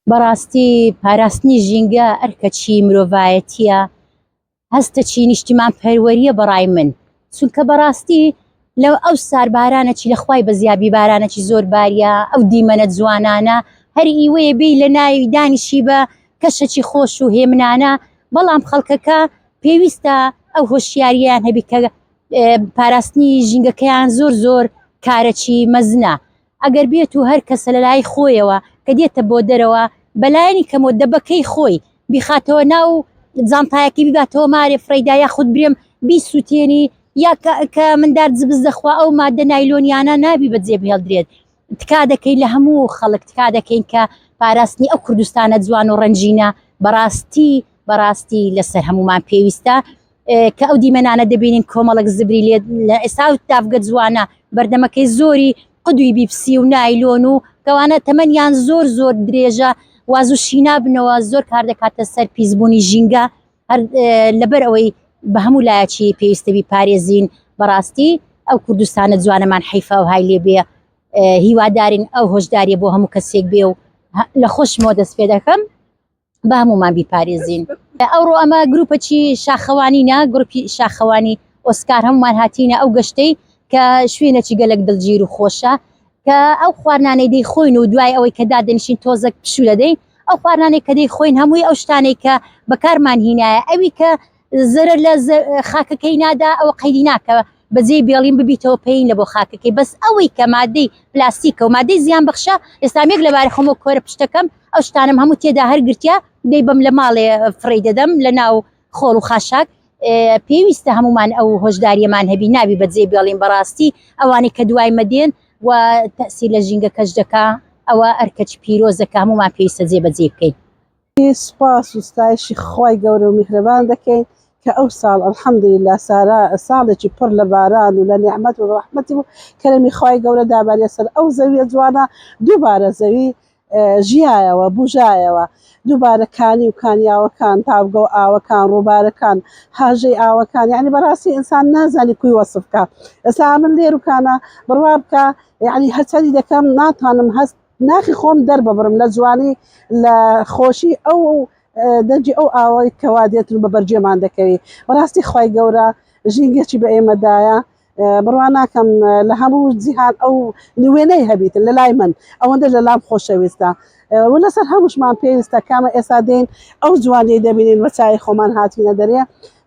بەڕاستی پاراستنی ژینگە ئەرکەچی مرۆڤایەتیە هەستە چی نیشتیمان پەروەریە بەڕای من چونکە بەڕاستی لە ئەو سار بارانە چی لەخوای بەزیابی بارانە چی زۆر باریە ئەو دیمەنە جوانانە هەر ئیوەیە بی لە ناوی دانیشی بە کەشەکی خۆش و هێمنانە بەڵام خەڵکەکە پێویستە ئەو هۆشیاریان هەبی کە پاراستنی ژینگەکەیان زۆر زۆر کارەکی مەزنە ئەگەر بێت و هەر کەسە لە لای خۆیەوە کە دێتە بۆ دەرەوە بە لایەنی کەمەوە دەبەکەی خۆی بیخاتەوە ناو جانتایەکەی بیباتەوە مارێ فڕێیدا یاخود برێم بیسووتێنی یا کە مندار جبز دەخوا ئەو مادە نایلۆنیانە نابی بەجێ بهێڵدرێت تکا دەکەین لە هەموو خەڵک تکا دەکەین کە پاراستنی ئەو کوردستانە جوان و ڕەنجینە بەڕاستی بەڕاستی لەسەر هەمومان پێویستە کە ئەو دیمەنانە دەبینین کۆمەڵک زبری لێت لە ئێستا و تافگە جوانە بەردەمەکەی زۆری قدوی بیپسی و نایلۆن و کەوانە تەمەنیان زۆر زۆر درێژە واز و شینا بنەوە زۆر کار دەکاتە سەر پیسبوونی ژینگە لەبەر ئەوەی بە هەموو لایەکی پێویستەبی پارێزین بەڕاستی ئەو کوردستانە جوانەمان حیفا و های لێ بێ هیوادارین ئەو هۆشداریە بۆ هەموو کەسێک بێ و لە خۆشمەوە دەست پێ دەکەم با هەمومان بیپارێزین ئەوڕۆ ئەمە گروپەچی شاخەوانینە گروپی شاخەوانی ئۆسکار هەمومان هاتینە ئەو گەشتەی کە شوێنەچی گەلک دڵگیر و خۆشە کە ئەو خوارنانەی دەی خۆین و دوای ئەوەی کە دادنشین تۆزەک پشو دەدەین ئەو خوارنانێک کە دەی خۆین هەمووی ئەو شتانێک کە بەکارمان هینایە ئەوی کە زەرەر لە خاکەکەی نادا ئەوە قەیدی ناکە بەجێ بێڵین ببیتەوە پێین لە بۆ خاکەکەی بەس ئەوەی کە مادەی پلاستیکە و مادەی زیان بەخشە ئێستامێک لەبارە خۆمە کۆرە پشتەکەم ئەو شتانم هەموو تێدا هەرگرتیا دەی بەم لە ماڵێ فڕی دەدەم لە ناو خۆڵ و خاشاک پێویستە هەمومان ئەو هۆشداریەمان هەبی ناوی بەجێ بێڵین بەڕاستی ئەوانەی کە دوای مەدێن و تەسی لە ژینگە کەش دەکا ئەوە ئەرکەچ پیرۆزەکە هەمومان پێویستە جێ بەجێ بکەین سوپاس و ستایشی خوای گەورە و میهرەبان دەکەین کە ئەو ساڵ الحمدللە سارا ساڵێکی پڕ لە باران و لە نیعمەت و ڕەحمەتی بوو کەرەمی خوای گەورە دابەریە سەر ئەو زەویە جوانە دووبارە زەوی ژیایەوە بوژایەوە دووبارە کانی و کانیاوەکان تاوگە و ئاوەکان ڕووبارەکان هاژەی ئاوەکان یعنی بەڕاستی ئینسان نازانی کوی وەسف بکە ئێستا من لێرکانە بڕوا بکە یعنی هەرچەندی دەکەم ناتوانم هەست ناخی خۆم دەرببڕم لە جوانی لە خۆشی ئەو و دەنگی ئەو ئاوای کەوا دێت و بەبەرگێمان دەکەوی بەڕاستی خی گەورە ژینگەچی بە ئێمەدایە بڕوا ناکەم لە هەموو جیهان ئەو نوێنەی هەبیتن لە لای من ئەوەندە لە لام خۆشەویستە و لەسەر هەمووشمان پێویستە کامە ئێستا دێن ئەو جوانی دەبینین بە چای خۆمان هاتینە دەرێ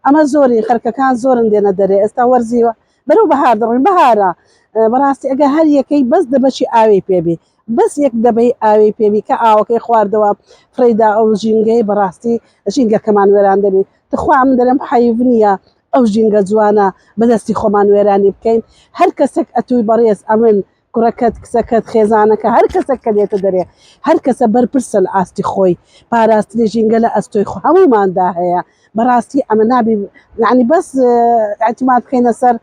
ئەمە زۆری خەرکەکان زۆرن دێنە دەرێ ئێستا وەرزی بەرەو بەهار دەڕۆین بەهارە بەڕاستی ئەگەر هەر یەکەی بەس دەبەشی ئاوێی پێبی بەس یەک دەبەی ئاوێی پێبی کە ئاوەکەی خواردەوە فڕێدا ئەو ژینگەی بەڕاستی ژینگەکەمان وێران دەبێت تخوا من دەرم حەیف نییە ئەو ژینگە جوانە بەدەستی خۆمان وێرانی بکەین هەر کەسێک ئەتووی بەڕێز ئەمن کوڕەکەت، کچەکەت، خێزانەکە، هەر کەسێک کە دێتە دەرێ، هەر کەسە بەرپرسە لە ئاستی خۆی، پاراستنی ژینگە لە ئەستۆی هەمووماندا هەیە، بەڕاستی ئەمە نابی یانی بەس ئیعتماد بکەینە سەر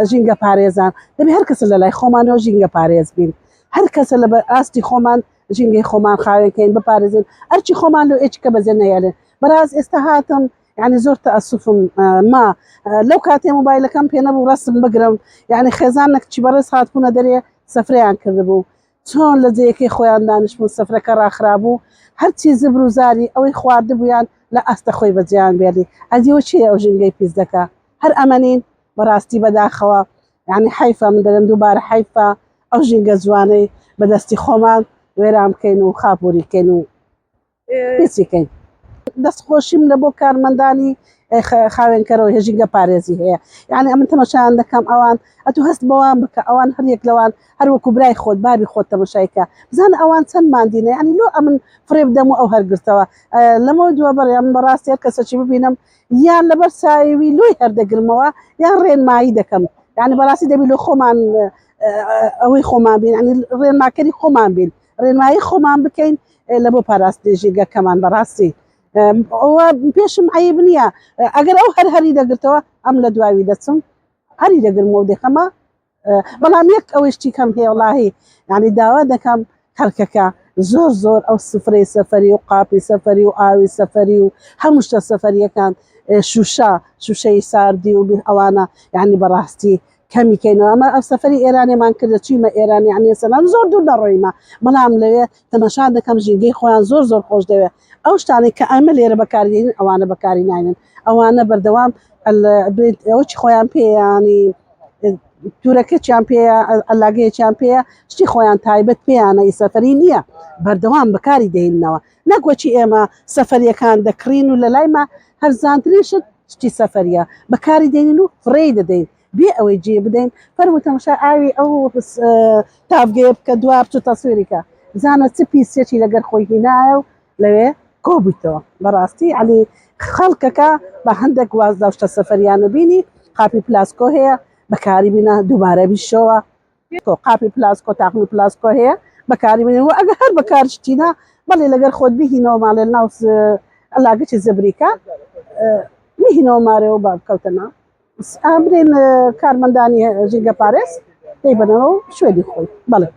ژینگە پارێزان، دەبێ هەر کەسە لە لای خۆمانەوە ژینگە پارێز بین، هەر کەسە لە بە ئاستی خۆمان ژینگەی خۆمان خاوێنکەین بپارێزین، ئەرچی خۆمان لۆ ئێچکە بەجێ نەهێڵێ، بەڕاست ئێستا هاتم یعنی زۆر تەئەسوفم ما لەو کاتێ مۆبایلەکەم پێ نەبوو ڕەسم بگرم یعنی خێزان نەکچی بەڕێز هاتبوونە دەرێ سەفرەیان کردبوو چۆن لە جێیەکەی خۆیان دانیشتبوو سەفرەکە ڕاخرابوو هەرچی زبر و زاری ئەوەی خواردبوویان لە ئاستە خۆی بەجێیان بێڵی ئەدیوە چی ئەو ژینگەی پیس دەکا هەر ئەمەنین بەڕاستی بەداخەوە یعنی حیفە من دەرم دووبارە حیفە ئەو ژینگە جوانەی بەدەستی خۆمان وێران بکەین و خاپوری کەین و دەست خۆشیم لە بۆ کارمەندانی خاوێنکەرەوە هێژینگە پارێزی هەیە یعنی ئەمن تەمەشان دەکەم ئەوان ئەتو هەست بەوان بکە ئەوان هەریەک لەوان هەروەکو برای خۆت بابی خۆت تەمەشایکە بزان ئەوان چەند مادینە ینی لۆ ئەمن فرێب دەم و ئەو هەرگرتەوە لەمە دووە بەڕێم بەڕاست هەر کەسەی ببینم یان لەبەر ساوی لۆی هەردەگرمەوە یان ڕێنمایی دەکەم یعنی بەڕاستی دەبی لۆ خۆمان ئەوەی خۆمان بین ڕێنماکەری خۆمان بین ڕێنمایی خۆمان بکەین لە بۆ پاراستنی ژینگەکەمان بەڕاستی ئەوە پێشم عیب نییە ئەگەر ئەو هەر هەری دەگرتەوە ئەم لە دواوی دەچم هەری دەگرم و دەکەمە بەڵام یەک ئەوەشتی کەم هەیە وڵاهی یعنی داوا دەکەم خەرکەکە زۆر زۆر ئەو سفرەی سەفری و قاپی سەفری و ئاوی سەفری و هەموو شتە سەفریەکان شوشە شوشەی ساردی و ئەوانە یعنی بەڕاستی کەمی کەینەوە ئەمە ئەو سەفری ئێرانێمان کردە چیمە ئێران یعنی سەلام زۆر دوور دەڕۆیمە بەڵام لەوێ تەمەشا دەکەم ژینگەی خۆیان زۆر زۆر خۆش دەوێت ئەو شتانێک کە ئەمە لێرە بەکارین ئەوانە بەکاری ناینن ئەوانە بەردەوام ئەوچی خۆیان پێیانی تورەکەچیان پێ ئەلاگەیەکیان پێەیە شتی خۆیان تایبەت پێیانە ئی سەفری نییە بەردەوام بەکاری دێنەوە نەک وەکی ئێمە سەفەریەکان دەکڕین و لەلایمە هەرزانترین شت شتی سەفەریە بەکاری دێنین و فڕێی دەدەین بێ ئەوەی جێ بدەین فەرموو تەمەشای ئاوی ئەو تاڤگەیە بکە دوا بچوو تەسویری کە بزانە چ پیسیەکی لەگەر خۆی هینایە و لەوێ کۆبوویتەوە بەڕاستی عەلی خەڵکەکە بە هەندێک واز لەو شتە سەفەریانە بینی قاپی پلاسکۆ هەیە بەکاری بینە دووبارە بیشەوە تۆ قاپی پلاسک و تاقمی پلاسک هەیە بەکاری بنێن و ئەگە هەر بەکارش تینا بەڵێ لەگەر خۆت بهینەوە ماڵێ ناو ئەلاگەچی زبریکە میهینەوە مارێ و بابکەوتەنا ئامرێن کارمەندانی ژینگە پارێز دەیبەنەوە و شوێنی خۆی بەڵێ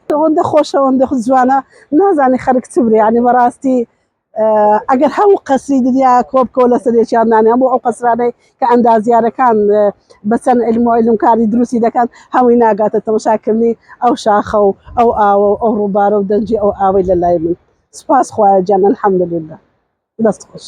ئەوەندە خۆشەوەندە زوانە نازانی خەرک چ برێ ینی بەڕاستی ئەگەر هەموو قەسری دنیا کۆبکۆ لەسەر یەکیان نانێ هەموو ئەو قەسرانەی کە ئەندازیارەکان بە چەند علم و علمکاری دروستی دەکەن هەمووی ناگاتە تەمەشاکردنی ئەو شاخە و ئەو ئاوە و ئەو ڕووبارە و دەنجی ئەو ئاوەی لە لای من سپاس خوایە جان الحمدلله دەست خۆش.